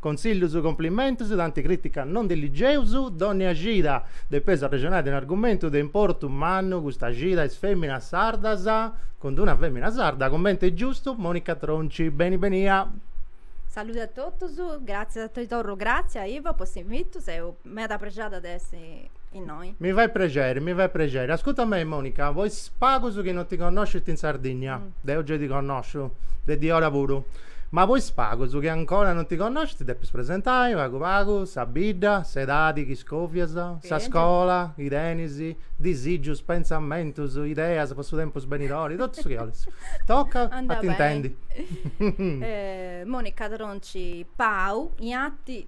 Consiglius Cumplimentus tanti critica non ndi ligeus dònnia cida depeus arrexonai de un'argumentu de importu mannu custa cida est fèminas sardas cun d'una fèmina sarda cumenti est giustu Monica Tronci beni benia. Salude a totus, gratzias ti torru gratzias Ivo po s'invitu seu Meda prexada de essi innoi. Mi fait prexeri, mi fait prexeri. Ascurta mei, Monica, po is pagus chi non ti connoscint in Sardinnia, mm. deu giai ti connosciu, de diora puru, ma po is pagus chi ancora non ti connoscint ti depis presentai pagu pagu sa bidda, s'edadi chi scovias, sa scola chi tenis, disigius, pentzamentus, ideas po su tempus benidori, totu su chi 'olis. Tocat a t'intendi. Monica Tronci Pau, ianti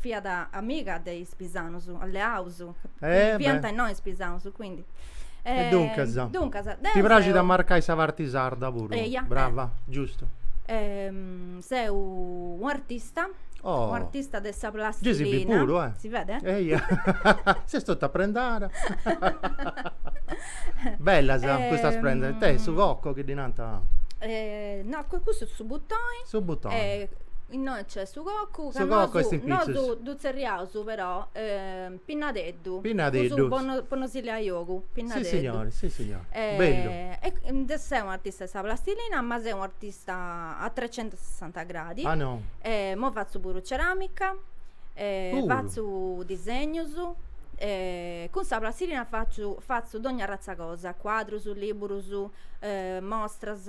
fiat amiga de is pisanos, alleaus, fiant innoi is pisanos, quindi. E duncas. Duncas. Deu. Ti praxit a marcai sa parti sarda puru. Eia. Brava, giustu. Seu u' artista. Oh. U' artista de sa plastilina. Gei si bit puru, eh. Si vede? Eia. Ses totu aprendada. Bellas custas prendas. Ita est, su cocco chi ddi nant? No, cussu est su butoi. Su butoi. Innoi nc'est. Su cocu Su cocu est in pitzus. Nosu ddu tzerriaus però pinnadeddu. Pinnadeddu. Cussu po no, po no si leai ogu, pinnadeddu. Si signori, si signori. Bellu. E deu seu un'artista 'e sa plastilina, ma seu un'artista a trecentosessanta gradi. Ah no. E imoi fatzu puru ceramica. Puru. Fatzu disegnus. E cun sa plastilina faciu, fatzu dogna arrazza cosa, cuadrus, liburus, mostras,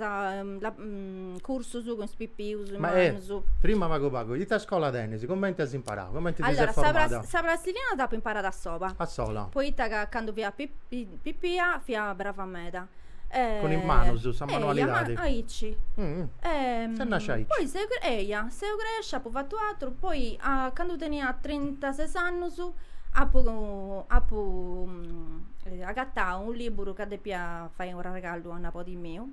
cursus cun is pipius e mannus. Ma eh, prima pagu pagu, ita scola tenis? Cumenti as imparau? Cumenti ti ses formada? Allora, sa plastilina dd'apu imparada a sola. A sola? Poita ca candu fia pipia fia brava meda. Cun is manus, sa manualidadi? Eia, aici. Ses nascia aici? Poi seu, eia, seu crescia, apu fatu atru, poi candu tenia trentases annus apu apu agatau u' liburu ca depia fai u' arregallu a nabodi miu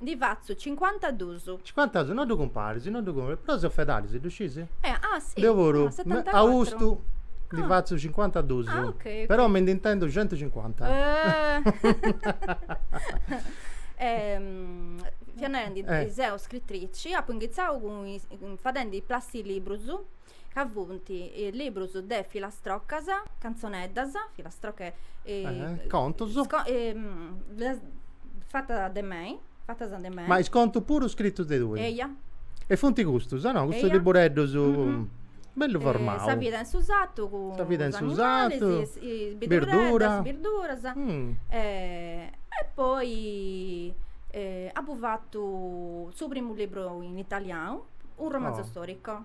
Ndi fatzu cincuantadus. Cincuantadus, no ddu cumparis, no ddu cumparis. Però seu fedali, si ddu sciis? Eh, ah, si. Deu puru. Ah, setantacuatru. Austu ndi fatzu cincuantadus. Ah, ok, ok. Però mi nd'intendu centucincuanta. Fia narendi, seu scritrici, apu inghitzau fadendi is plastilibrus. ca funt librus de filastrocas, cantzoneddas, filastrocche, contus, fatas de mei, fatas de mei. Ma is contus puru scritus de tui? Eia. E funt custus, no? Custus libureddus, bellu formau. Sa vida in su satu cun is animalis. Sa vida in su satu, birduras. Birduras. E poi apu fatu su primu libru in italianu, u' romanzo storico.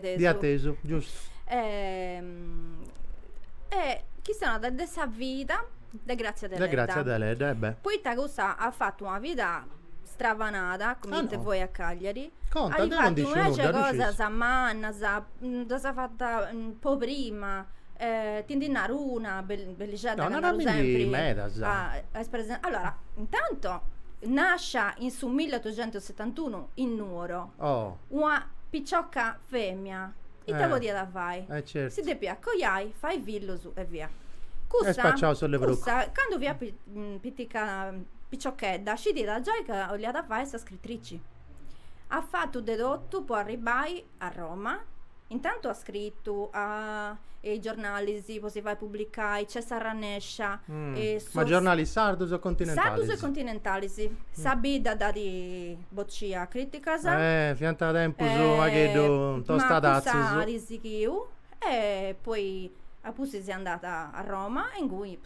Dd'ia atesu, giustu. E chistionat de de sa vida de Grazia Deledda. De Grazia Deledda, e beh. Poita cussa at fatu una vida stravanada, come dite voi a Cagliari. Conta, deu no nd'isciu nudda, ddu sciis? At fatu inveci cosas mannas, ddas at fatas po prima. Ti ndi naru una bellixedda ca naru sempri. No, narami ndi medas. Est presen. Allora, intanto nascia in su milleotuxentusetantunu in Nuoro. Oh. una picioca femina, ita Eh, podiat fai? eh, certu. Si depiat coiai, fai fillus e via. Cussa, E spaciau sos levrucos. cussa candu fiat pi- mm, pitica, piciochedda, scidiat giai ca 'oliat fai sa scritrici. At fatu de totu po arribbai a Roma, Intantu at scritu a is giornalis po si fai publicai, nc'est arrennescia e sos. Ma giornalis sardus o continentalis? Sardus e continentalis. Sa bidda dd'at boccia a criticas. Eh, fiant tempus unu pagheddu tostadatzus. Ma cussa at sighiu e poi a pustis est andada a Roma e ingui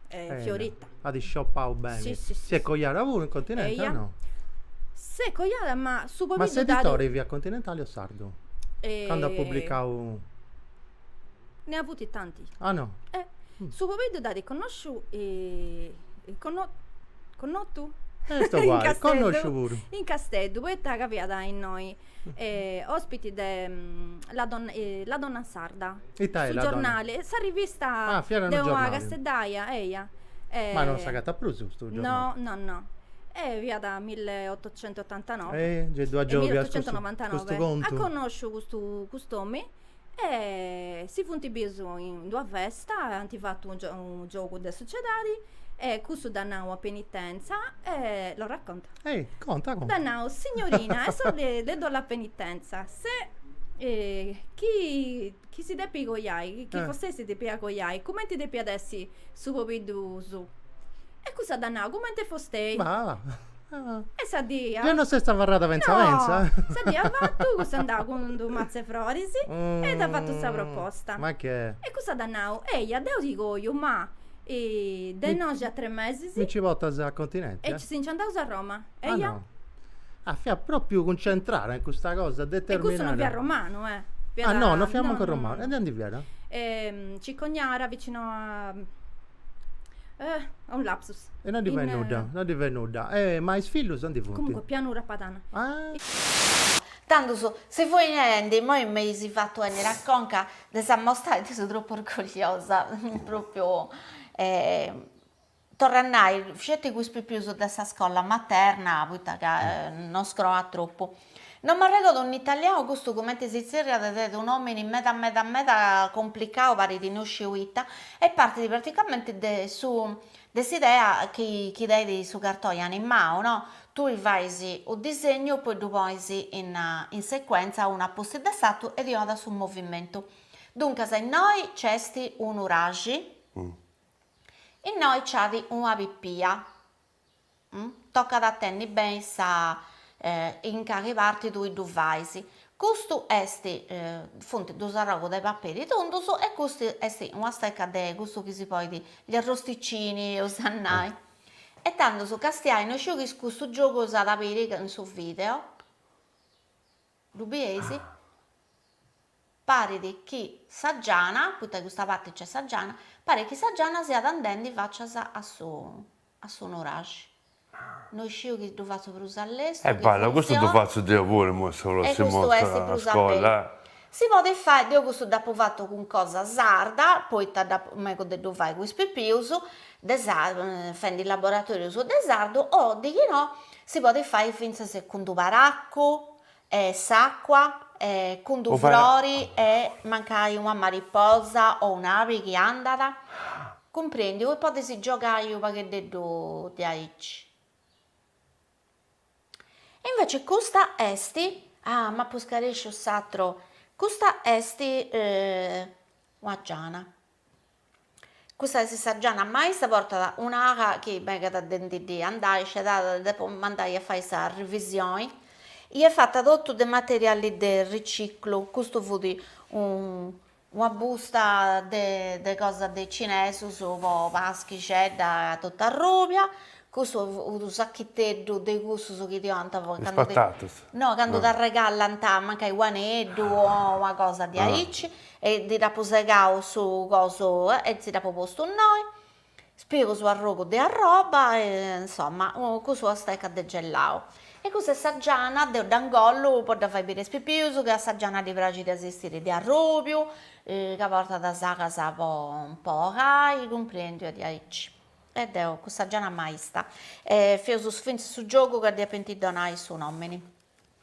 È fiorita. At isciopau beni. Si, si, si. Si est coiada puru in continenti Eia. o no? S'est coiada ma su Ma pobiddu dd'at s'editore fiat continentali o sardu? eh, Candu at publicau Ne ha avuti tanti. Ah no. Eh, su pobiddu dd'at connosciu conno- connotu? E est uguali, connosciu puru. In Casteddu, poita ca fiat innoi Ospiti de La donna sarda, su giornali, sa rivista de una casteddaia, eia. Ma non s'agatat prus custu giornali? No, no, no. Fiat milleotocentotantanove. E gei ddu agiòbias custu contu? Milleotocentonovantanove. At connosciu custu custu omini E si funt bius in d'una festa e ant fatu unu giogu de sociedadi e cussu dd'at nau a penitenza e, lo racconto? Ehi, conta, conta. Dd'at nau, signorina, adesso le do la penitenza, se chi chi si depit coiai, chi fostei si depiat coiai, cumenti depiat essi su pobiddu suu? E cussa dd'at nau, cumenti est fostei. Ma E sa die. Deo no s'est abarrada pentza pentza? No! Sa die afatu custu est andau cun d'unu matzu 'e froris e dd'at fatu sa proposta. Ma che. E cussa dd'at nau, eia, deu ti coiu, ma de innoxi a tres mesis. Mi nci portas a Continenti? E chi si nci andaus a Roma, eia? Ah no. Ah, fiat propriu cuncentrada in custa cosa, determinada. E custu non fiat romanu, eh! Fiat. Ah no, non fiat mancu romanu. E de aundi fiat? Cicognara, vicino a. Eh, un lapsus. E non ddi fait nudda, non ddi fait nudda. E ma is fillus aundi funt? Comunque, Pianura Padana. Ah! Tandus si fui nendi, immoi m'eis fatu enniri a conca de sa mostra e ndi seu tropu orgogliosa, propriu torru a nai, sceti cun is pipius de sa scola materna, poita ca non scroat tropu. Non m'arregodo in italianu custu cumenti si tzerriat de unu òmini meda meda meda complicau parit no sciu ita e partit praticamenti de su de s'idea chi chi tenit su cartoni animau no tui fais unu disegnu poi ddu ponis in in sequentza unu apustis de s'atru e ti 'onat su movimentu duncas innoi nc'est unu nuraxi innoi nc'at una pipia tocat a tenni beni sa in cali parti tui ddu fais, custu est funt duus arrogus de paperi tundus e custu est una steca de custu chi si podit gli arrosticini eus a nai e tandus castiai no sciu chi custu giogu s'at a biri in su video Ddu bieis? Parit chi sa giana, poita de custa parti nc'est sa giana, parit chi sa giana siat andendi facias a su a su nuraxi. No isciu chi ddu fatzu prus a lestu, chi funtzionat. E bada, custu ddu fatzu deo puru imoi sa prossima 'orta a scolla. Si podit fai, deu custu dd'apu fatu cun cosa sarda, poita megu de ddu fai cun is pipius fendi laboratorius de sardu o de chi no Si podit fai fintzas cun d-unu paracu e s'acqua e cun d-unu frori e mancai una mariposa o un'abi chi andat, cumprendiu e podis giogai unu pagheddeddu diaici. Invece custa est, ah m'apu scaresciu s'atru, custa est una giana. Custa est sa giana maista portat un'ala chi megat de ndi ddi andai scedada depo mandai a fai sa rivisioni e est fata totu de materiali de riciclu custu fut una busta de cosa de cinesus po paschixedda totu arrubia custu unu sachiteddu de cussus chi ti 'onant candu t'arregallant mancai un'aneddu o una cosa diaici E nd'apu segau su cosu e si dd'apu postu innoi, is pius arrogu de arroba e insoma custu steca de gelau. E custa est sa giana, deu dda ingollu po dda fai biri a is pipius chi a sa giana ddi praxit de si 'istiri de arrubiu, ca portat is alas po po 'olai, cumprendiu e diaici. E est custa giana maista e feus fintzas su giogu ca ddi depint donai su nomini.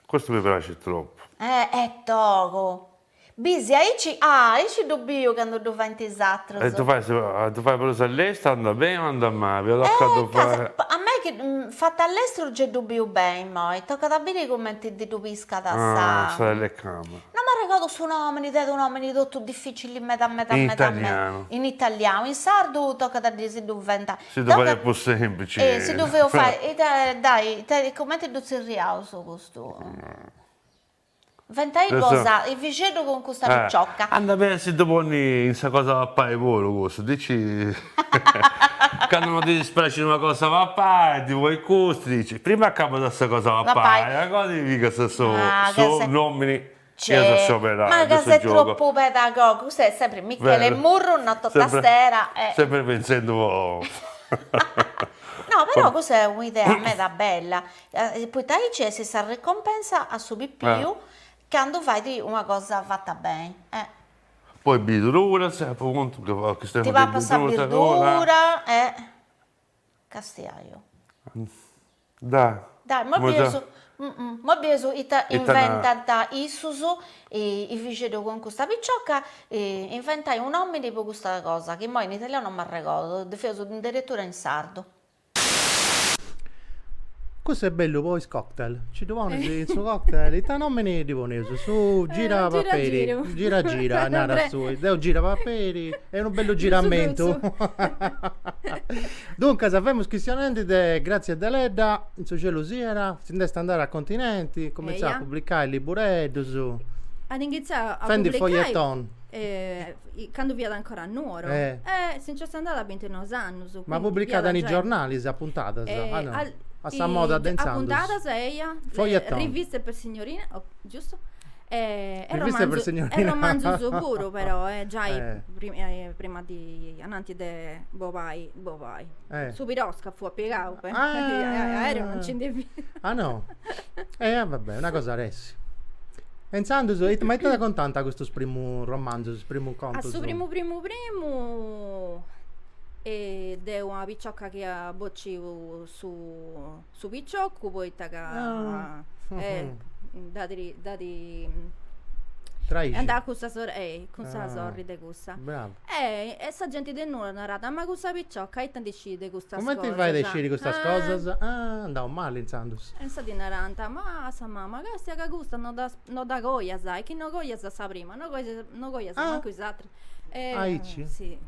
Custu mi praxit tropu. Eh eh togu. Bisi aici ah aici ddu biu candu ddu faint is atrus. E ddu fait su ah ddu fait prus a lestu andat beni o andat mali. Eh ca a mei chi fatzu a lestru gei ddu biu beni immoi tocat a biri cumenti ndi ddu piscat sa. Ah sa telecamera. No m'arregodu su nomini tenit unu nomini totu dificili meda meda meda meda. In italianu. In italianu in sardu tocat a si ddu inventai. Si ddu faghiat prus semplici. E si ddu feus fai, ita, dai, ita, cumenti ddu tzerriaus custu? Inventai cosa, Efixeddu cun custa picioca. Anda beni a si ddu ponni in sa cosa 'e papai puru custu, dici, candu no ddi dispraxit una cosa 'e papai, ddi ponis custu, dici, prima acabas sa cosa 'e papai e agoa ti pigas su, su nomini. Ma ca ses tropu pedagogu, custu est sempri Michele Murru, noto tastera e. Sempri pentzendu po. No però custa est un'idea meda bella, poita aici essit sa ricompensa a su pipiu candu fait una cosa fata beni. Poi birduras, apu contu ca a chistempu. Ti papas sa birdura e castiaju. Dai. Dai, mo bieus mo bieus ita inventant issus, Efixeddu cun custa picioca, inventai u' nomini po custa cosa, chi moi in italianu non m'arregordu, ddu feus addirittura in sardu. Cussu est bellu po is cocktail, nci ddu ponis in su cocktail, ita nomini ddi poneus, su gira paperi, gira gira narat su, deu gira paperi, est unu bellu giramentu Duncas femus chistionendi de Grazia Deledda, in su cielu siat, si nd'est andada a continenti, comintzat a publicai libureddus. At inghitzau a publicai. Fendi feuilleton. candu fiat ancora a Nuoro. Eh si nc'est andada a bintinoi annus. Ma publicat in is giornalis a puntadas, ah no? A sa moda de intzandus. A puntadas, eia. Feuilleton. Riviste per signorine, giustu. E romanzus puru però, giai prima di, ananti de bolai, su piroscafu at pigau, aereo non nci ndi fiat. Ah no? E va bè, una cosa ressit. E intzandus, ma ita contant custus primus romanzus, is primus contus? A su primu primu primu de una piciocca chi iat bociu su su piccioccu poita ca ah. eh, dd'at dd'at est andau cun sa sorri eh cun sa ah. sorri de cussa Bravo. e e sa genti de Nuoro narat ma cussa picciocca ita ndi scit de custas cosas cumenti fait de sciri custas ah. cosas ah andau mali intzandus e insaras narant ma a sa mama castia ca custa no ddas no dda coias e chi no coias sa prima no coias no coias ah. mancu is atras Aici?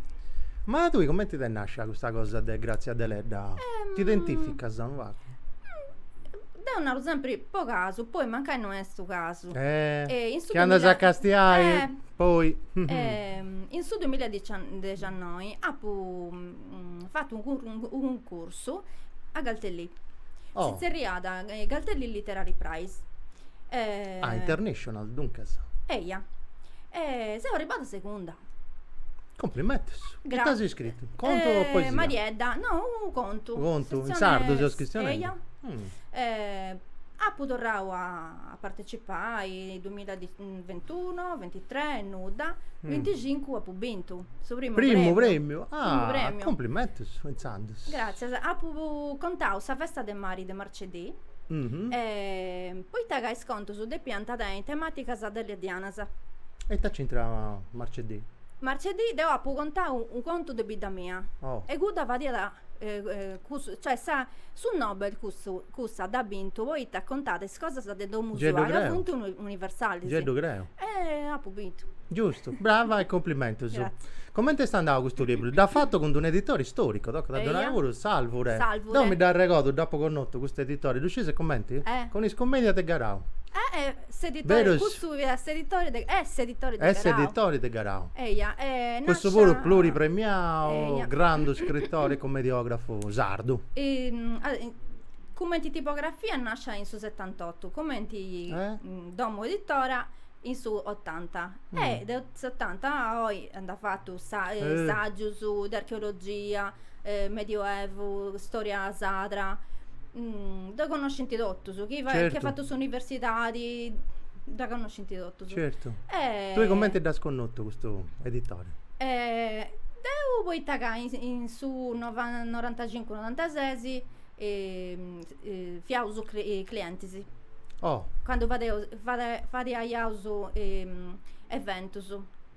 Ma tui cumenti t'est nascia custa cosa de Grazia Deledda? T'identificas unu pagu? Deu naru sempri po casu, poi mancai no est su casu. Chi andas a castiai poi. In su duimilla e diciannoi apu mm, apu fatu unu cur- unu cuncursu a Galtellì. Oh. Si tzerriat eh, Galtellì Literary Prize. Eh, Ah, international, duncas. Eia. E seu arribada segunda. Complimentos. Ita Grazie. as scritu? Contu o Eh, poesia? Mariedda, no, unu contu. Unu contu, in Sezione- sardu seus chistionendi? Eia. Mm. Eh, apu torrau a a partecipai, 2000 di 21, 23 e nudda, 25 mm. apu bintu su primu, primu premiu. Ah, primu premiu. Complimentus, intzandus. Gràtzias. Apu contau sa festa de mari de Marcedì. Mm -hmm. e, poita ca is contus depiant tenni temàticas deleddianas. E ita c'intrat Marcedì? Marcedì deu apu contau u' contu de bidda mia. Oh. E cudda fadiat cioè sa su Nobel cussa dd'at bintu poita contat is cosas de domu sua ca funt universalis. Gei ddu creu. E apu bintu. Giustu, brava e cumplimentus. Grazia. Comenti est andau custu libru? Dd'as fatu cun d'unu editore istoricu, tocat a ddu nai puru, Salvure. Salvure. Deu mi dd'arregodu, dd'apu connotu custu editore, ddu sciis comenti? Eh. Cun is cummedias de Garau. Eh eh S'editori, custu fiat s'editori de, est s'editori de Garau. Est s'editori de Garau. Eia, e nasciat. Cussu puru pluripremiau, grandu scritori e commediografu sardu. Cumenti tipografia nasciat in su setantotu, cumenti domu editora in su otanta. E de s'otanta a oi nd'at fatu sa, sagius de archeologia. Medioevu, storia sadra, dda connoscint totus, chi at fatu s'universidadi dda connoscint totus. Certu. Tui cumenti dd'as connotu custu editore? Deu poita ca in su norantacincu norantases fiaus clientis. Oh. Candu fadaiaus eventus.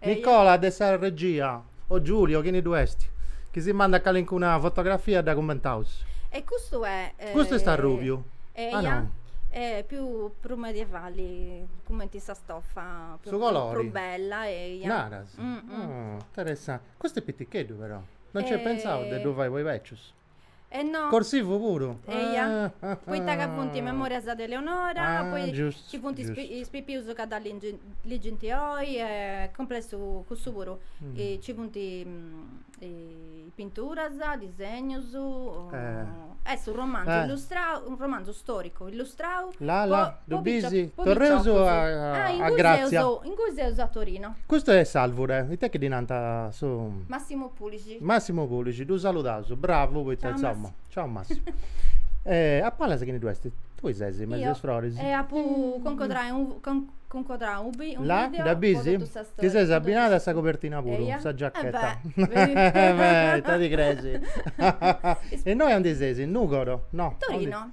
Nicola de sa regia, o Giulio, chini ddu est, chi si mandat calincuna fotografia dda cummentaus. E custu est. Custu est arrùbiu. Eia. Eh, più prus medievali, cumenti sa stoffa. Su colori. Prus bella, eia. Naras. Interessanti. Custu est piticheddu però. Non nci eis pentzau de ddu fai po is bècius. E no. Corsivu puru? Eia, poita ca funt is memorias de Eleonora, poi ci funt is pipius ca dda ligint oi, e cumpletu cussu puru. Ci funt pinturas, disegnus, est u' romanzu illustrau, u' romanzu storicu illustrau po piciochus. Ingui seus a Torino. Custu est Salvure, ita chi ddi nant su. Massimo Pulici. Massimo Pulici, ddu saludaus, bravu poita insoma. Ciao Massimo. a palas chini ddu est? Tui ses in mesu a is froris? Io, e apu cuncodrau unu video, La, dda bis? Ti ses abbinada a sa cobertina puru, sa giacchetta. Ita ti creis. Innoi andi ses, in Nugoro? No. Torino.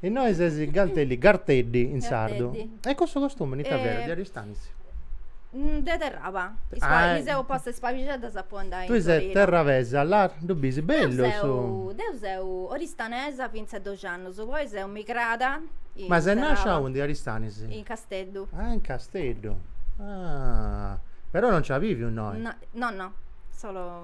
Innoi ses Galtellì, Garteddi in sardu. Garteddi. E cussu costume in ita fiat? De Aristanis? De Terraba. Is Ah, e- mi seu posta is pabixeddas po andai in Tui ses Torino. terrabesa, la, ddu bisi, Deu bellu seu, su. deu seu oristanesa fintzas a doxi annus, poi seu migrada in Ma ses nascia Terraba, aundi, Aristanis? in Casteddu. Ah, in Casteddu. Ah, però non nci as biviu innoi. No, no, no, solo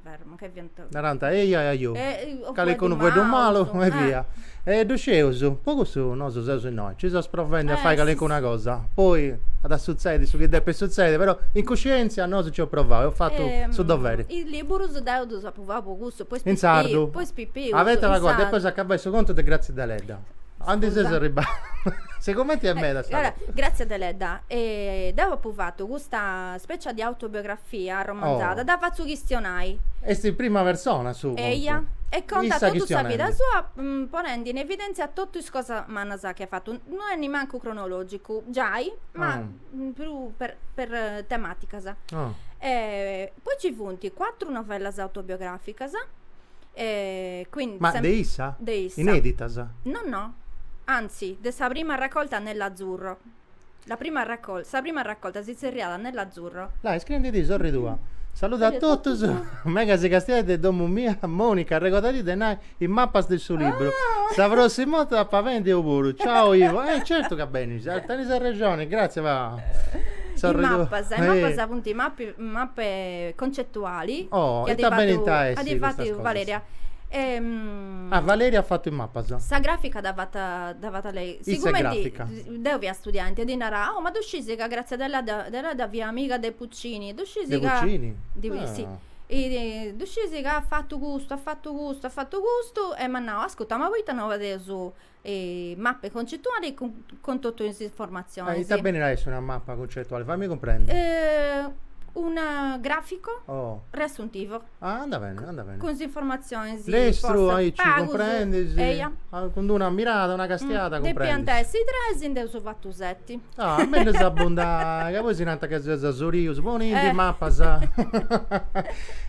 Beru, ma che fiant. Narant, ehi a ajo, calincunu fueddu malu e via. E ddu sceus, po cussu nosu seus innoi, nci seus provendi a fai calincuna cosa, poi at a sutzedi su chi depit sutzedi, però in cuscientzia nosu nc'eus provau, eus fatu su doveri. Is liburus deu ddus apu fatu po cussu, po is pipius. In sardu? Po is pipius. Ah, poita ca depeus acabai su contu de Grazia Deledda. Andi seus arribau? Sigumenti est meda sa cosa. Grazia Deledda, deu apu fatu custa Specia de autobiografia arromanzada, dda fatzu chistionai. Est in prima persona su contu. Eia, e contat totu sa vida sua, ponendi in evidèntzia totu is cosas mannas chi at fatu. No est nimancu cronològicu, giai, ma prus per per temàticas. Poi nci funt cuatru novellas autobiogràficas, quindi. Ma de issa? De issa. Inèditas? No no, anzi, de sa prima raccolta Nell'azzurro. La prima raccolta, sa prima raccolta si tzerriat Nell'azzurro. Là, iscriendi ti, sorri tua. Saludu a totus, megu a si castiai de domu mia, Monica, arregodadi de nai is mapas de su libru, sa prossima 'orta ap'a benni eu puru, ciao Ivo, eh certu ca benis, tenis arrexoni, grazie va, sorri tua, eh. Is mapas, is mapas funt is mapi, mape concetuali, oh, ita benint a essi custas cosas, chi at fatu Valeria, ah Valeria at fatu is mapas, sa grafica dd'at fata, dd'at fata lei, sigumenti, issa est grafica. Deu fia studiendi e ddi narau, Oh, ma ddu scisi ca Grazia Deledda fiat amiga de Puccini? Ddu scisi ca. De Puccini? Di, ah. Sì. I, ddu scisi ca at fatu custu, at fatu custu, at fatu custu, e m'at nau, ascurta, ma poita no fadeus eh, mappe concettuali cun, cun totu is informazionis. Eh, ita benit a essi una mappa concettuali? Fammi cumprendi. Eh, un grafico. Oh. Riassuntivo. Ah, andat bene, andat bene. Cun s'informatzionis. Lestru, aici, cumprendis. Eia. Cun d'una mirada, una castiada, cumprendis. Depiant essi tres, nd'eus fatu seti. Ah, mellus abundai, ca poi si nant ca si seus asurius, ponindi is mapas.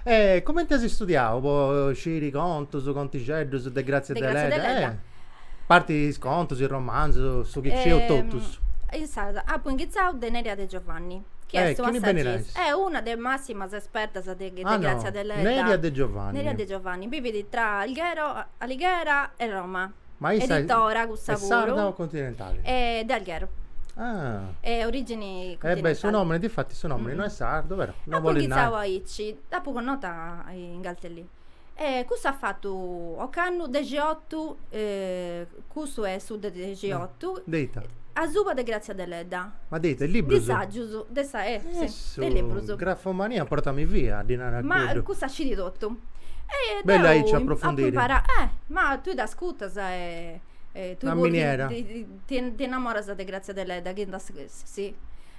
E cumenti as istudiau po sciri contus, contixeddus de Grazia Deledda? Parti is contus, is romanzus, su chi scieus totus. Insaras apu inghitzau de Neria De Giovanni, chi est una sagista, est una de is massimas espertas de Grazia Deledda. Neria De Giovanni. Neria De Giovanni, bivit tra Alghero, Alighera e Roma. Ma issa est sarda o continentali? Est de Alghero. E origini continentali. E beh, su nomini, difatis su nomini no est sardu, però, no bolit nai. Apu inghitzau aici, dd'apu connota in Galtellì. E cussa at fatu ocannu dexiotu, cussu est su de dexiotu. De ita? Asuba de Grazia Deledda. Ma de ita, de librus? De sàgius, de sa, eh, si, de librus. Grafomania portami via a ddi nai a cuddu. Ma cussa scit totu. E deu. Bellu aici a aprofundiri. Apu imparau, eh, ma tui dd'ascutas e e tui puru. Una miniera. Ti innamoras de Grazia Deledda, chi nd'as, si.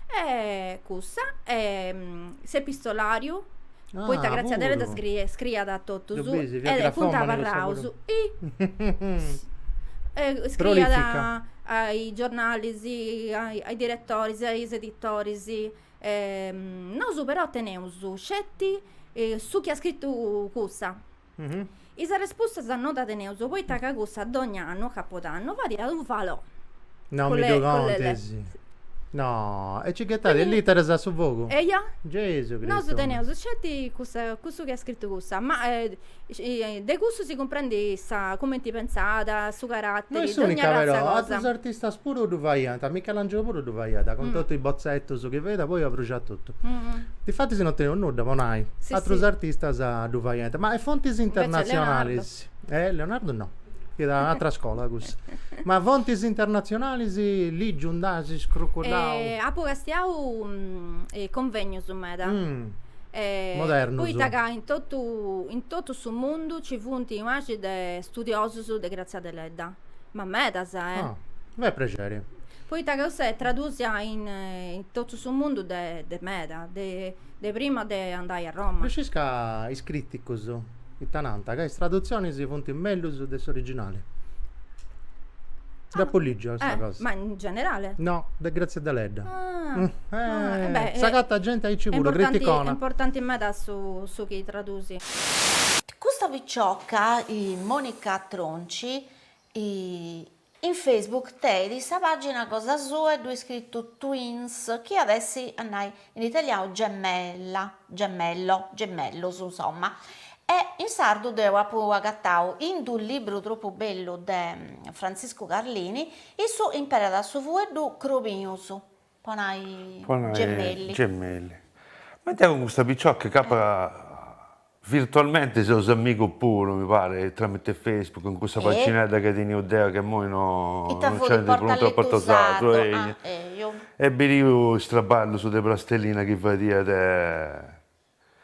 E cussu est s'epistolàriu. poita Grazia Deledda scriiat a totus e funt abarraus scriiat a is giornalis, a is diretoris a is editoris nosu però teneus sceti su chi at scritu cussa Is respustas no ddas teneus poita ca cussa dogna annu, capodannu, fadiat unu falò. No mi ddu contis. No, e nci ghetàt is literas a su fogu? Eia. Gesu Cristu. Nosu teneus sceti cussu chi at scritu cussa, ma de cussu si cumprendit sa, cumenti pentzàt, su caratteri, dogna razza cosa. No est unica però, atrus artistas puru ddu faiant, Michelangelo puru ddu faiat, cun totu is botzetus chi faiat poi abruxàt totu. Difatis non teneus nudda po nai, atrus artistas ddu faiant, ma fontis internatzionalis, Leonardu no, fiat un'atra scola cussa, ma fontis internatzionalis lìgiu nd'as, scrucullau? Apu castiau convènnius meda, modernus, poita ca in totu in totu su mundu nci funt unu màciu de studiosus de Grazia Deledda, Ma medas, eh? Ah, beh prexeri. Poita ca cussa est tradusia in, eh, in totu su mundu de, de meda, de, de prima de andai a Roma. Ddu scis ca is crìticus ita nant, ca is tradutzionis funt mellus de s'originali. Dd'apu lìgiu custa cosa. Ma in generale? No, de Grazia Deledda. Ah, Mm, ah, eh, e beh, eh, s'agatat genti aici puru, criticona. Est importanti meda su, su chi tradusi. Custa picioca, Monica Tronci, in Facebook tenit sa pàgina cosa sua e ddoi at iscritu Twins, chi at essi a nai in italianu gemella, gemello, gemellos insomma, e in sardu deu apu agatau in d-unu libru tropu bellu de Frantziscu Carlini, issu imperat su fueddu Crobius, Po nai gemelli. Gemelli. Ma deu cun custa picioca ch'apo virtualmente seus amigos puru mi paret, tramite Facebook, in cussa paginedda chi tenia deu chi immoi no nc'est prus de Portu Sardu, ehi, e biriu is traballus de prastellina chi fadiat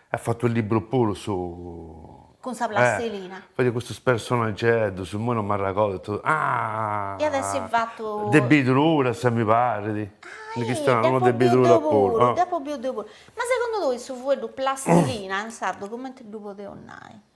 At fatu is liburus puru su. Cun sa plastilina. Eh. Fadia custus personaggeddus, immoi non m'arragodu ita. Ah. At a essi fatu. De bidru puru a si mi parit. Ah ih. Chistionau, unu de bidru puru apu biu. Deu apu biu de puru. Ma segundu tui su fueddu plastilina in sardu cumenti ddu podeus nai?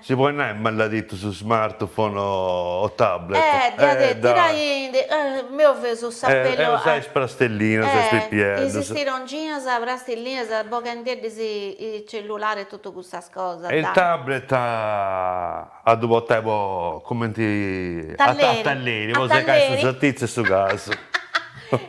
Si podit nai maladitu su smart phone o tablet. Eh diat tirai in meu fesu sa pelu. E usai is prastellinas e is pipieddus. Istirongina is prastillinas boghendiddis i cellulari e totu cussas cosas. E il tablet a ddu portai po cumenti a talleri po segai su sartizzu e su casu.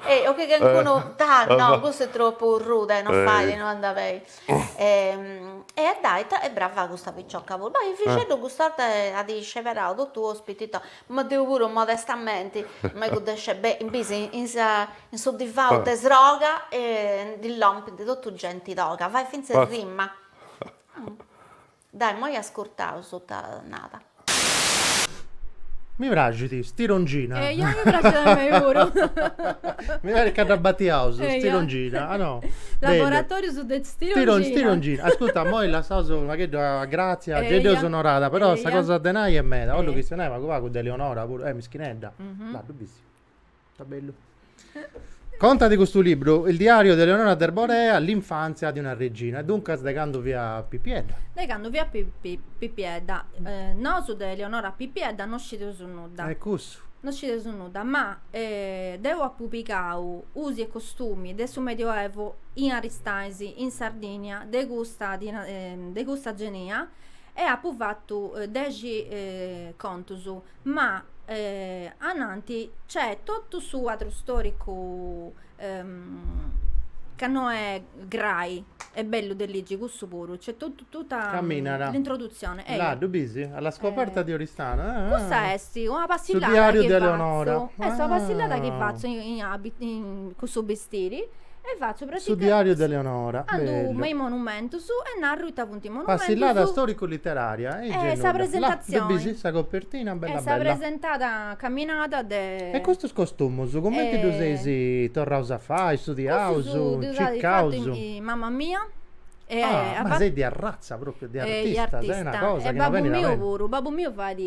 Ehi, o chi calincunu. Ah no, cussa est tropu ruda e non fait, non andat beni. e dai ita est brava custa picioca puru, ma a Efixeddu custa 'orta at isceberau totu ospiti ita, ma deu puru modestamenti mi ddu dexit beni, in bis in sa in su divanu de sroga e ndi lompint totu genti toga, fait finzas rima Dai moi ascurtau su ita nd'at nau. Mi praxit stirongina. E ja mi praxit a mei puru. Mi parit ca dda batiaus stirongina, ah no? Laboratorius de stirongina. Stirongina, ascurta moi lassaus u' pagheddu a Grazia, ca deu seu onorada, però sa cosa de nai est meda, bollu chi si neit pagu pagu de Leonora puru, eh mischinedda, là ddu bis. Contat custu libru, Il diario di Eleonora d'Arborea, l'infanzia di una regina, e duncas de candu fiat pipiedda. De candu fiat pipiedda. Nosu de Eleonora pipiedda non scideus nudda. E custu? Non scideus nudda, ma deu apu pigau usi e costumi de su Medioevu in Aristanis, in Sardinia, de custa de custa genia e apu fatu dexi contus ma ananti c'è totu su cuadru storicu ca no è grai e bellu de ligi cussu puru c'è totu tutta Caminera. l'introduzione eia. Là, ddu bisi? Alla scoperta di Oristano. Ah, ah. Custa esti una passillada diariu chi de fatzu. Eleonora. Esti una Ah. passillada chi fatzu in in abit- in- cun su bistiri E fatzu pratica. Su diàriu de Leonora. Andu me i monumentus e narru ita funt i monumentus. Passillada storicu-literaria e gei nudda. Là ddu bis? Sa copertina bella bella. E dd'as presentada caminada de. E custus costumus cumenti ddus eis torraus a fai, studiaus, circaus? Cussus ddus at fatu mama mia. E Ah, a ma seis de arratza pròpriu, de e i artista, seis una artista. cosa E chi non babbu benit a miu mente. puru, babbu miu fait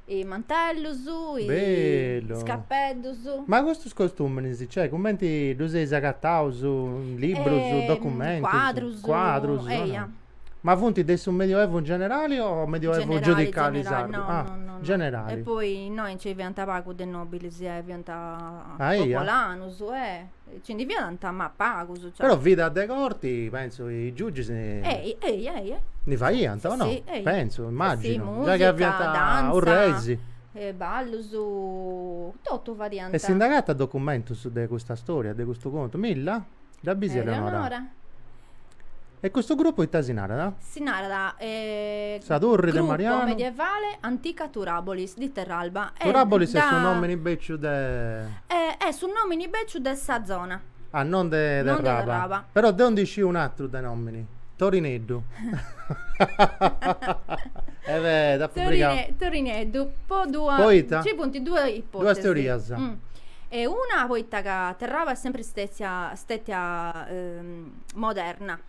is mantellus, i Bellu. is capeddus. Ma custus costùminis, cioè, cumenti ddus eis agataus, librus, documentus? Cuadrus. Cuadrus. Eia. Ma funt de su Medioevu in generali o Medioevu Generali, giudicali generali, sardu? no, Ah, no, no, no. generali. E poi innoi nci fiant pagus de nobilis, eh, fiant Ah, eia? popolanus, eh Ci ndi fiant, ma pagus. Però vida de corti, pentzu chi is giugis. Ehi, ehi, ehi. Ndi faiant, o no? Si, si. Pentzu, immaginu. Giai chi aviant su rei. Ballus, totu fadiant. E si nd'agatat documentus de custa storia, de custu contu? Milla? Dda bis a Eleonora? E custu grupu ita si narat? Si narat Sa Turri de Marianu. Gruppo medievale antica Turabolis di Terralba. Turabolis est su nomini beciu de. Est su nomini beciu de sa zona. Ah non de Terraba. Non de Terraba. Però deu ndi sciu un'atru de nomini. Torineddu. E be t'apu frigau. Torineddu po duas. Poita? Ci funt duas ipotesis. Duas teorias. E una poita ca Terraba est sempri stetia stetia moderna.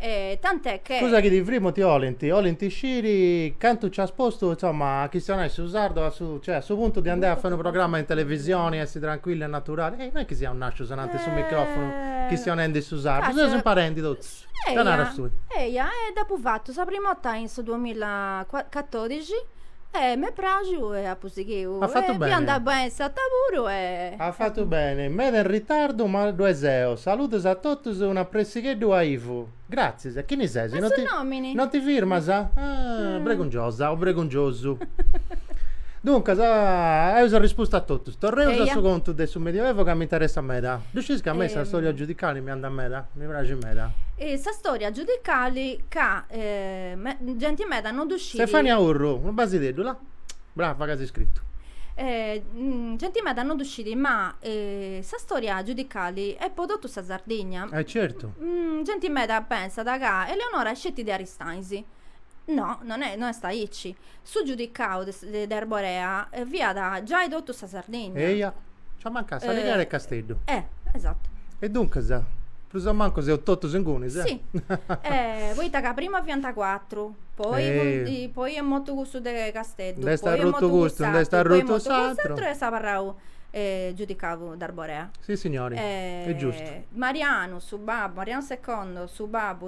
E tant'è che... Scusa chi ti frimu ti olint, olint sciri cantu nci as postu, insomma, a chistionai su sardu a su, cioè, a su puntu di andai a fai unu programma in televisioni, essi tranquillu e naturali. Ehi, non est chi siaus nascius ananti a su microfonu eh. chistionendi su sardu, seus imparendi totus. Eia, ca naras tui? Eia, e dd'apu fatu sa prima 'orta in su duamilla catorixi E m'est praxiu e apu sighiu. As fatu beni. E fiant bene s'ata puru e. As fatu beni. Meda in ritardu ma ddue seu. Saludos a totus e un'apressigheddu a Ivu. Gratzies. E chini ses? Ma su nomini. Non ti firmas? Ah, bregungiosa o bregungiosu. Duncas, eus arrispustu a totus. Torreus a su contu de su Medioevo ca m'interessat meda. Ddu sciis ca a mei sas storias giudicali mi andant meda? Mi praxint meda. Sa storia giudicali ca genti meda non ddu. Sciri. Stefania Urru, unu basideddu, là. Brava ca as iscritu. Eh, mm, genti meda no ddu scidi, ma eh, sa storia giudicali est po totu sa Sardigna. Eh certu. Mm, genti meda pensat ca Eleonora est sceti de Aristanis. No, non est, no est aici. Su giudicau de, de Arborea fiat giai totu sa Sardigna. Eia. Nci ammancàt s'Alighera e Casteddu. Eh! Esattu. E duncas, prus o mancu seus totus ingunis. Si. Poita ca prima fiant cuatru, poi poi est mortu cussu de Casteddu, poi est mortu cuss'atru. Nd'est arrutu custu, nd'est arrutu s'atru. Poi est mortu cuss'atru e est abarrau giudicau d'Arborea. Sissignori. Est giustu. Marianu, su babbu, Marianu secondo, su babbu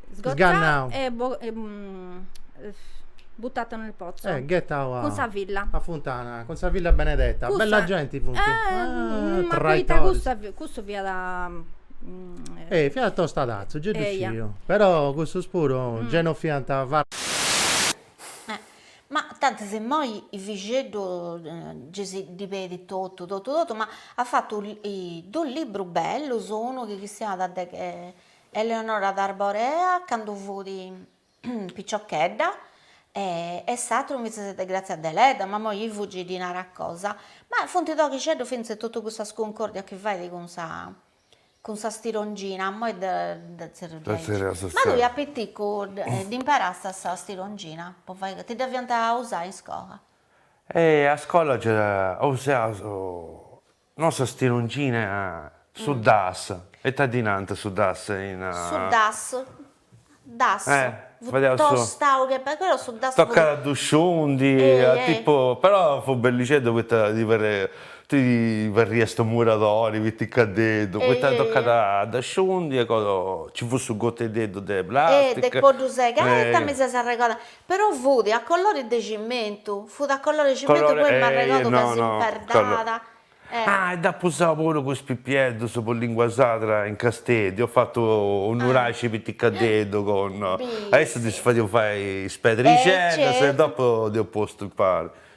Sgannau. e bo e buttata nel pozzo. Eh, ghettau a. Cun sa filla. A funtana, cun sa filla benedetta. Cussa. Bella genti funt. Eh, ah, ma poita cussa, cussu fiat. Eh, fiat tostadazzu, già ddu sciu. Però cussus puru, già no fiant. Ma tantis immoi is bixeddus ddis ddi pedit totu, totu, totu, ma at fatu dus librus bellus, unu chi chistionat de Eleonora d'Arborea candu fut piciochedda e s'atteru invece de Grazia Deledda, ma moi i fugi di nara cosa, ma funt toghixeddus fintzas totu cussas cuncordias chi fait cun sa cun sa stirongina, a moi de de zerrius ma tui a piticu dd'imparàst sa stirongina po fai, ti dda fiant a usai in iscola? E a scola gei usaiaus No sa stirongina su das e ta ddi nant su das in. Su das das fut tostau che perda però su das fut. Tocat a ddu sciundi a tipu però fut bellixeddu poita ti ti parriast u' muradori piticadeddu poita tocat a dda sciundi e cosa nci fut su goteddeddu de plastica. E de po ddu segai ita mi ses arregodau. Però fut a colori de cimentu, fut a colori 'e cimentu poi m'arregodu ca s'imperdàt. Ah, e dd'apu usau puru cun is pipieddus po lingua sadra in Casteddu, ho fatto u' nuraxi piticaddeddu con, a issus ddis fadia fai is pedrixeddas e dopo dd'eus postu impari.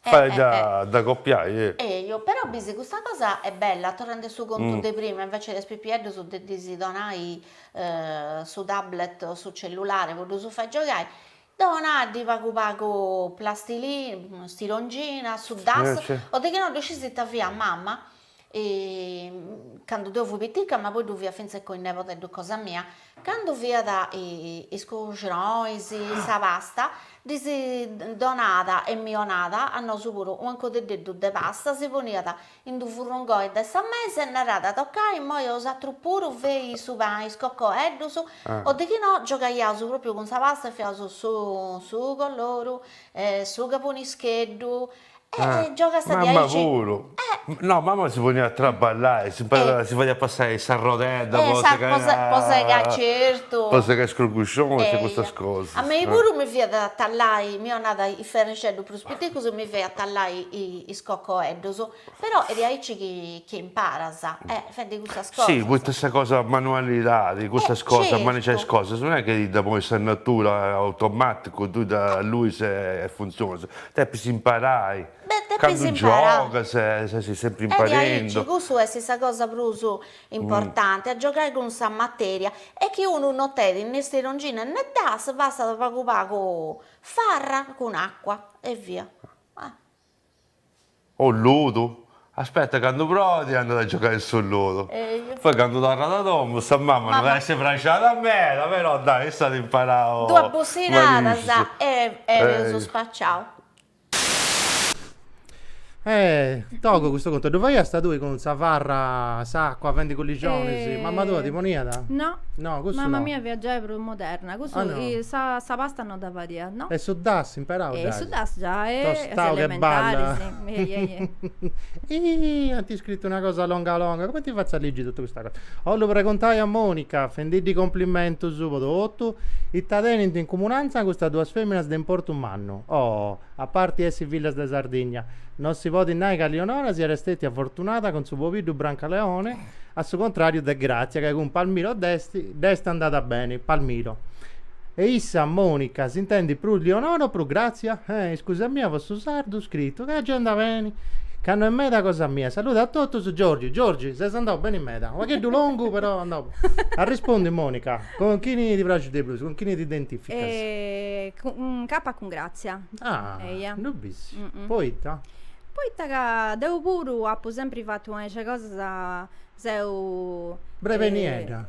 Fait a dda copiai, eh! Eju, però bisi custa cosa est bella, torrende a su contu de prima, invece de is pipieddus de ddis donai su tablet o su cellulare po ddus fai giogai, donaddi pagu pagu plastilina, stirongina, su das, o de chi no ddu scisi ita fiat mama, e cando deo fui pitica, ma poi ddu fia finzas cun is nebodeddus cosa mia, cando fiat is cruxonis, sa pasta, ddis donàt e mi 'onàt a nosu puru u' ancodeddeddu de pasta, si poniat in d'u' furrungoi de sa mesa e naràt, tocai immoi bosatrus puru fei su pani, is cocoeddus, o de chi no giogaiaus pròpriu cun sa pasta e fiaus su su coloru, su cabunischeddu, Giogast diaici. Mama puru. No, mama si poniat a traballai, s'imparàt, si fadiat passai s'arrodedda po segai. Po segai certu. Po segai is cruguxonis e custas cosas. A mei puru mi fiat a tallai, mi 'onat is ferrixeddus prus piticus e mi fiat a tallai is cocoeddus, però est diaici chi imparas, fendi custas cosas. Sì, poita sa cosa manualidadi, custas cosas, manigiai is cosas, non est chi dda ponit sa natura automaticu, tui dd'alluis e funtzionas. Depis imparai. Beh, depis imparai. Candu giogas ses sempri imparendi. E diaici, cussu est sa cosa prus importanti, a giogai cun sa materia. E chi unu no tenit ne stirongina ne das, bastat pagu pagu farra cun acua e via. O ludu? Aspetta, candu proit andat a giogai in su ludu. Eju. Poi candu torrat a domu sa mama no dd'at a essi prexada meda, però dai, issa at imparau. Duas bussinadas e eus spaciau. E togu custu contu ddu faiasta tui cun sa farra, s'acua, fendi culurgionis? Mama tua ti poniat? No. No, cussu no. Mama mia fiat giai prus moderna, cussu, sa pasta no. No dda fadiat, no. E su das, imparau dai. E su das giai a s'elementaris. Iih, at iscritu una cosa longa longa, cumenti fatzu a ligi totu custa cosa? 'ollu preguntai a Monica, fendiddi cumplimentus po totu, ita tenint in cumunanza custas duas feminas de importu mannu. Oh, a parti essi fillas de Sardigna, no si podit nai ca Lionora siat stètia fortunada cun su pobiddu Brancaleone, a su contrariu de Gratzia ca cun Palmiro dd'est dd'est andada beni, Palmiro, E issa, Monica, s'intendit prus Lionora o prus Gratzia? Eh, iscusa mia po su sardu scritu, ca agenda beni, ca no est meda cosa mia, saluda a totus, Giorgi, Giorgi, ses andau beni meda, pagheddu longu però andau Arrispondi, Monica, Cun chini ti praxit de prus, cun chini t'identificas? Cun kapa, cun Gratzia. Ah, eia, ddu bissi, poita? Poita ca deu puru apu sempri fatu una 'e is cosas seu. Breveniedda.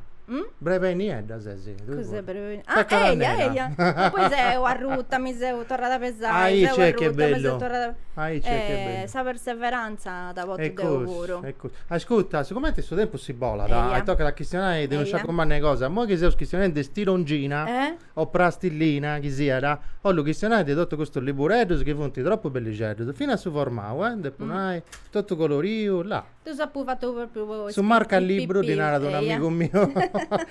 Breveniedda ses. Cos'est breveniedda? Ah Elia Elia. Ma poi seu arruta, mi seu torrada a pesai, seu arruta, mi seu torrada a pesai. E sa perseveranza dda portu deu puru. E cussu. Ascurta, sigumenti su tempus si bolat e tocat a chistionai de unu sciacu mannu 'e cosa, immoi chi seus chistionendi de stirongina. o prastillina chi siat, 'ollu chistionai de totu custus libureddus chi funt tropu bellixeddus, finas su formau, eh, depu nai, totu coloriu, là. Ddus apu fatus propriu po is Su marcalibru, ddi narat unu amigu miu,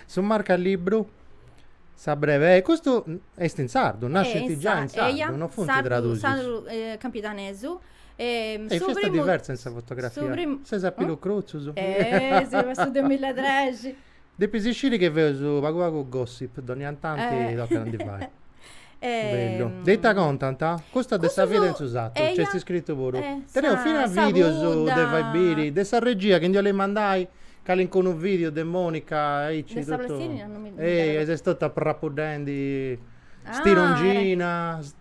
su marcalibru, sa brevei, custu est in sardu, nascit giai in sardu, no funt tradusius. Eia, in sardu, sardu campidanesu. E su primu, su primu, est diversa in sa fotografia, ses a pilu crutzus. Eh, si, passu duamilla e trexi. Depis isciri che feus pagu pagu gossip, doniantanti tocat a ndi fai. Bellu. De ita contant? Custu est de sa vida in su satu, nc'est iscritu puru. Teneus finas videus de fai biri, de sa regia chi ndi 'olint mandai calincunu video de Monica aici totu. Ei, est totu aprapuddendi stirongina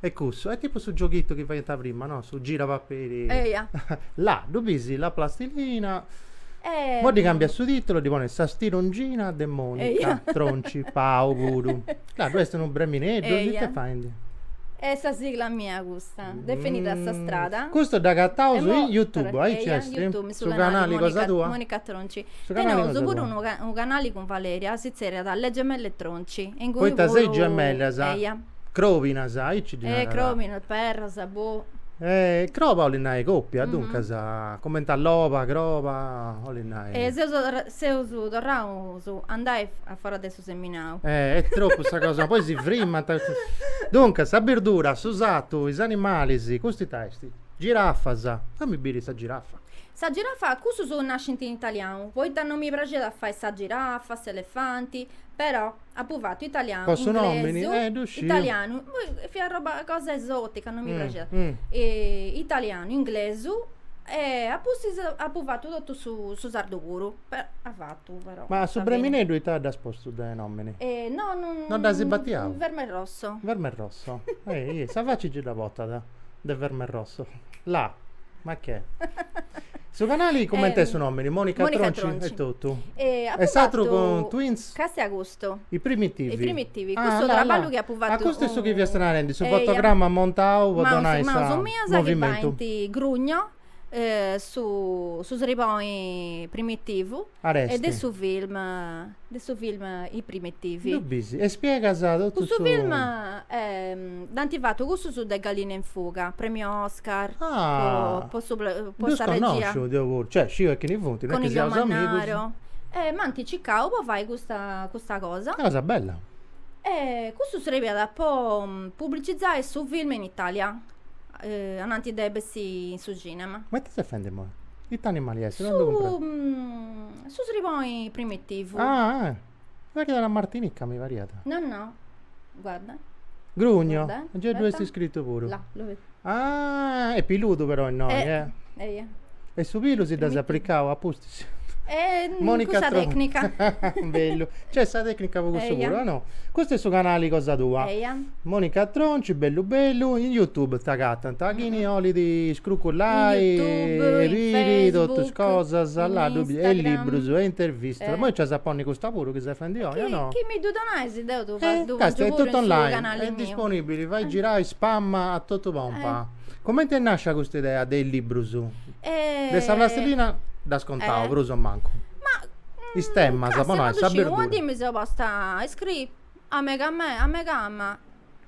E custu, è tipu su gioghittu chi faianta prima, no? Su gira paperi. Eia. Là, ddu bisi la plastilina. E. Po ddi cambiai su titulu ddi ponis sa stirongina de Monica. Eia. Tronci, Pau, puru. Là ddu esti unu bremineddu. Eia. It'è faindi? È sa sigla mia custa. Definida a sa strada. Mm. Custu dd'agattausu in Youtube, aici esti. Eia, in Youtube, su canali cosa tua. Monica, Monica Tronci. Su canali cosa tua. Teneusu puru unu, unu canali cun Valeria, si zerriada Le Gemelle Tronci. Poita seis gemellas. Eia. Crobinas, aici ddi narant. Eh, crobinas, perras, boh. Eh, croba 'olit nai copia, duncas, cumenti a loba, croba, 'olit nai. E seus seus torraus a andai a foras de su seminau. Eh, est tropu sa cosa, poi si frimant. Duncas, sa birdura, su satu, is animalis, custu ita est? Girafas, fami biri sa girafa. Sa girafa, custus nascint in italianu, poita non mi praxiat a fai sa girafa, s'elefanti, però. Apu fatu italianu, po su nomini, eh, ddu sciu. Italianu, fiat roba cosa esotica, non mi praxiat. italianu, inglesu e a pustis apu fatu totu su su sardu puru, a fatu però. Ma su bremineddu ita dd'as postu de nomini? no, non. Non dd'asi batiau. Verme rosso. Verme rosso, sa faci gei dda potat. de verme rosso. La, ma che? Su canali cumenti est su ehm, nomini? Monica Monica Tronci Tronci. e totu. E apu E s'atru fatu cun Twins? Castia custu. I primitivi. I primitivi, Ah, custu la, la. traballu chi apu Ah, fatu custu est su chi fiast narendi, su eia. fotogramma montau po Ma donai su, ma sa su miu sa chi movimentu. faint Grugno su su sriboi primitivu e de su film de su film i primitivi ddu bisi e spiegas totu cussu film dd'ant fatu cussus de galline in fuga premiu oscar po su po sa regia cioè sciu e chini funt non est chi seus amigus e m'ant circau po fai custa custa cosa una cosa bella e custu srebiat po publicizai su film in italia eh, ananti de bessi in su cinema. Ma ite ses fendi moi? Ite animali est? Su, mm, su sriboi primitivu. Ah, ah. Sa chida da Martinica mi pariat. No, no. Guarda. Grugno. Guarda, eh. Già due est scritto pure. Là, lo vedi. Ah, è piludu però innoi, eh. Eh, eh. E su pilu si dda s'applicau a pus Eh, Monica custa Tro- tecnica. Bellu. C'è sa tecnica po custu Eia. puru, o no? Custu è su canali cosa tua. Eia. Monica Tronci, bellu bellu, in YouTube t'agatant, a chini 'olit iscrucullai, In YouTube, e in biri Facebook, tottus cosas, in là ddu bi- e Instagram. libbrus, e intervistas, Eh. poi c'as a ponni custa puru chi ses fendi oi, o Chi, no? chi mi ddu donais deu ddu fa- Eh, ddu casta pongiu è puru in tottu su online, canali est miu. disponibili, fai girai, spamma a tottu pompa. Comenti nascit custa idea de is libbrus? De sa plastilina dd'as contau prus o mancu. Ma is temas po nai sa birdura. Una dì mi seu posta a iscriri a mega mei, a meigama,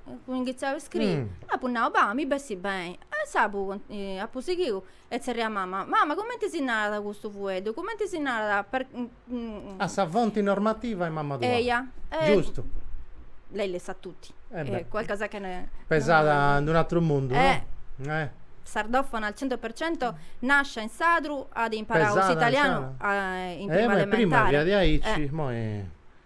apu ingitziau a iscriri e apu nau, bah, mi bessit beni. E insaras apu apu sighiu e tzerriat mama, mama cumenti si narat custu fueddu, cumenti si narat per A sa fonti normativa est mamma tua. Eja. Giustu. Lei le sa tutti. E beh. E qualcosa che ne. Pesada in un atru mundu, no? Eh. Eh. Sardofona al cento per cento, nascia in sadru, at imparau s'italianu in prima elementare. Eh beh, prima fiat aici, moi.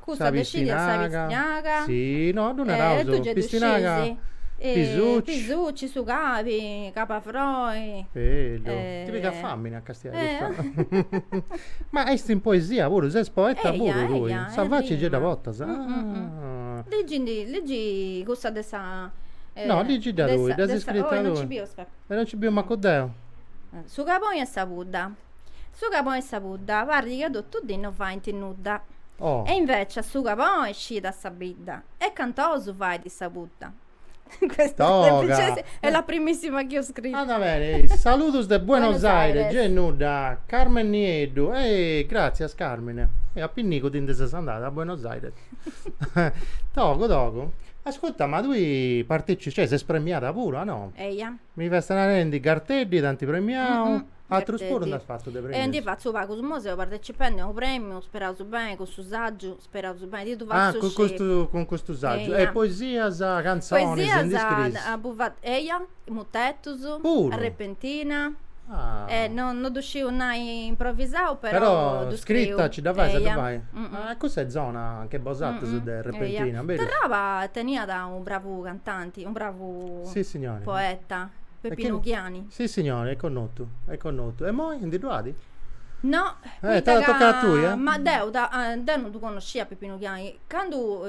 Cussa de sciri a sa pistinaga. Si, no, ddu naraus. E tui gei ddu scisi. Pisucci. Pisucci, su cabi, cabiafroi. Bellu. Ti pigat famini a castiai custa. Ma esti in poesia puru, ses poeta puru tui. Eia, eia, e rima. Sa faci gei dda portas. Ligindi, ligi cussa de sa. No, ligidda tui, dd'as iscrita tui. Oi, no nci biu, aspetta. E no nci biu mancu deu. Su caboni e sa pudda. Su caboni e sa pudda, parrit ca totu dì no faint nudda. Oh. E invecias su caboni scidat sa bidda e cantus ous fait sa pudda. Questa Toga. semplicesi- è la primissima che ho scritto. Andat beni, e saludos de Buenos Aires, gei nudda, Carmen Nieddu, eh, gràtzias Carmen, eh, a pinnigu ti ndi ses andada a Buenos Aires. Togu, togu. Ascurta, ma tui partici- cioè, ses premiada puru, a no? Eia. Mi fest narendi, Garteddi t'ant premiau. Atrus puru nd'as fatu de premius? E ndi fatzu pagus imoi, seu partecipendi a unu premiu, speraus beni, cun su sàgiu, speraus beni, ti ddu fatzu sciri. Ah, cun custu, cun custu sàgiu. Eia. E poesias, cantzonis, ndi scriis? Poesias apu fatu, eia, mutetus. Puru? Arrepentina. Ah. E no, no ddu sciu nai improvisau, però ddu scriu. Però scritta nci dda fais a ddu fai? Eia. Ah, cussa est zona nche bosatrus de Arrepentina, berus? Eia. Terraba teniat unu bravu cantanti, unu bravu. Sissignori. Poeta, Peppinu Ghiani. Sissignori, est connotu, est connotu. E moi, ndi ddu at? No, Eh, t'at a toccai a tui, eh? Ma deu, deu no ddu connoscia Peppinu Ghiani. Candu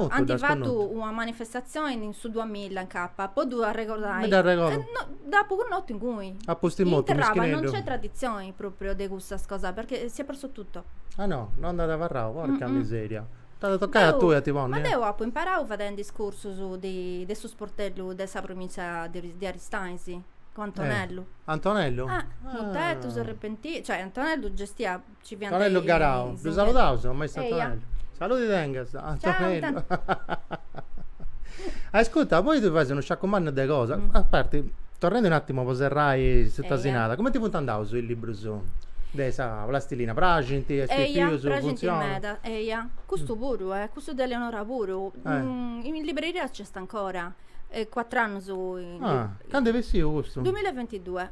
ant fatu una manifestatzioni in su duamilla in Capa, po ddu arregordai. Mi dd'arregordu. No, dd'apu connotu ingui. Apustis mortu, mischineddu. In Terraba non nc'est traditzioni pròpriu de cussas cosas, perchè si at persu totu. Ah no, no nd'at abarrau, porca miseria. T'at a tocai a tui a ti ponni? Ma deu apu imparau fadendi is cursus de de su sportellu de sa provìntzia de Aristanis, cun Antonellu. Antonellu? Ah, mutetus, arrepentina, cioè Antonellu gestiat, nci fiant is. Antonellu Garau, ddu saludaus a maistu Antonellu. Saluti tengas a Antonellu. Ascurta, poi tui fais unu sciacu mannu de cosa, a parti, torrendi un attimu po serrai su Tasinada, cumenti funt andaus is librus de sa plastilina, praxint a is pipius, funtzionat? Eja, custu puru, eh, custu de Eleonora puru, in libreria nc'est ancora, e cuattr'annus in libreria. Ah, candu est bessiu custu? Duamilla e bentidue.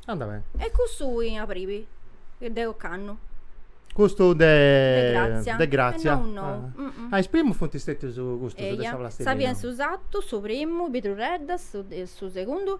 Andat beni. E custu in abribi de ocannu. Custu de. De Grazia. De Grazia. Est nou nou. Ah, is primus funt stetius custus de sa plastilina. Eja, sa fia in su satu, su primu, is bidrureddas, su segundu,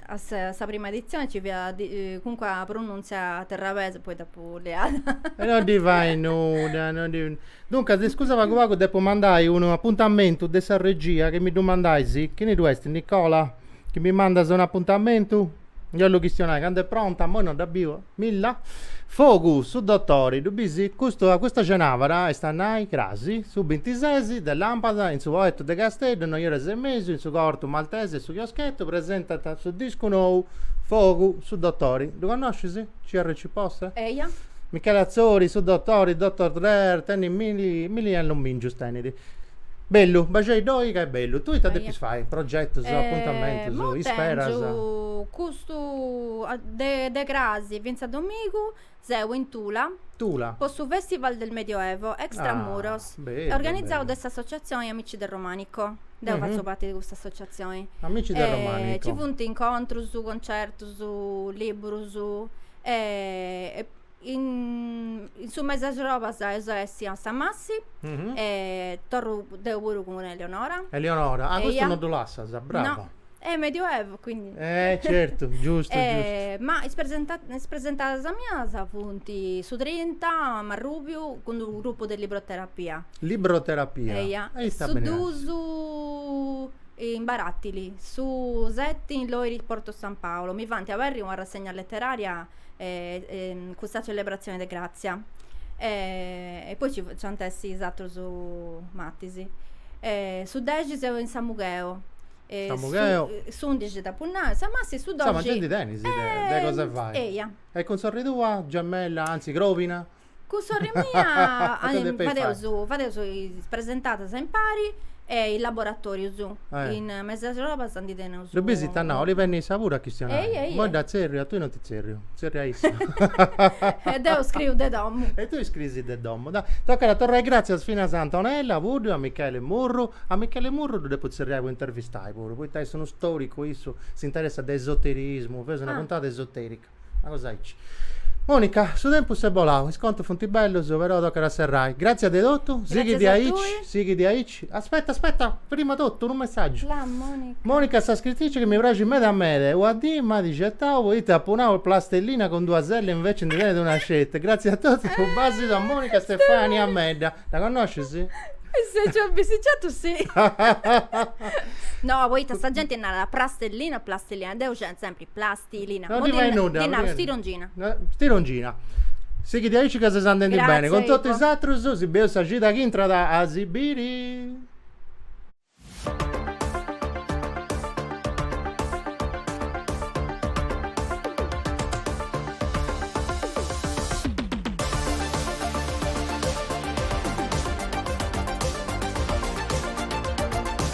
A sa prima editzione nci fiat comunque sa pronùntzia terrabesa, poi dd'apu leada. E non ddi fait nudda, non ddi. Duncas, iscusa pagu pagu, depu mandai unu apuntamentu de sa regia chi mi ddu mandais, chini ddu est Nicola? Chi mi mandas un'apuntamentu? Deu ddu chistionai, candu est pronta, immoi non dda biu. Milla, Fogu, su dotori, ddu bisi? Custu, custa cenàbara, est a nai, crasi, su bintisesi, de làmpada, in su Poetu de Casteddu, noi oras e mesu, in su Corto Maltese, su chioschetu, presentant su discu nou, Fogu, su dotori, ddu connoscis? CRC Posse? Eia. Michele Atzori, su dotori, Doctor Drer, tenit milli, milli annomìngius tenit. Bellu, baxei ddoi ca est bellu. Tui ita depis fai? Progetus, apuntamentus, isperas? Tengiu cus Stu de cras fintzas a domigu seu in Tula po su Festival del Medioevo Extra Muros, organizau de s'associatzioni Amici del Romanico. Deu fatzu parti de custa associatzioni. Amici del Romanico. Ci funt incontrus, concertus, liburus e In su mesi 'e axrobas eus a essi a Samassi e torru deu puru cun Eleonora. Eleonora, ah custu no ddu lassas, brava. No, e medioevu quindi. Eh certu, giustu giustu. Ma is presentadas mias funt su trinta a Marrubiu, cun d'unu grupu de libroterapia. Libroterapia. Eia, su dus in Baratili, su seti in Loiri Porto San Paolo, mi faint aberri una rassegna letteraria cun sa celebratzione de Gràtzia. E poi ci ant a essi is atrus matis. Su dexi seu in Samugheo. Samugheo. S'undixi t'apu nau, Samassi, su doxi. Insoma, ge ndi tenis de cosa fai. Eia. E cun sorri tua, gemella, anzi crobina? Cun sorri mia fadeus, fadeus is presentadas a impari e is laboratorius. In mesi 'e axrobas ndi teneus. Ddu bisi ita nau, oli benni issa puru a chistionai. Immoi dda tzerriu a tui non ti tzerriu, tzerriu a issa. E deu scriu de domu. E tui scriis de domu. Tocat a torrai gràtzias finas a Antonella Puddu, a Michele Murru. A Michele Murru ddu depu tzerriai po intervistai puru, poita est unu storicu issu, s'interessat de esoterismu, feus una puntada esoterica. Una cosa aici. Monica, su tempus s'est bolau, is contus funt bellus, però tocat a serrai. Gràtzias de totu, sighi diaici, sighi diaici. Aspetta, aspetta, prima totu unu messàgiu. La Monica. Monica est sa scritrici chi mi praxit meda meda, una dì m'at certau poita apu nau plastellina cun duas elle invece ndi tenit una sceti. Gràtzias a totu, unu bàsidu a Monica. Stefania Medda. Dda connoscis? Se ci ho bisticciato sì. No, poita sa genti narat prastellina o plastellina, deu scientu sempri plas. Stilina. No ddi fait nudda. Ddi naru stirongina. Stirongina. Sighit diaici ca ses andendi Grazie, bene. Cun totu is atrus, si beus sa cida chi intrat a si biri.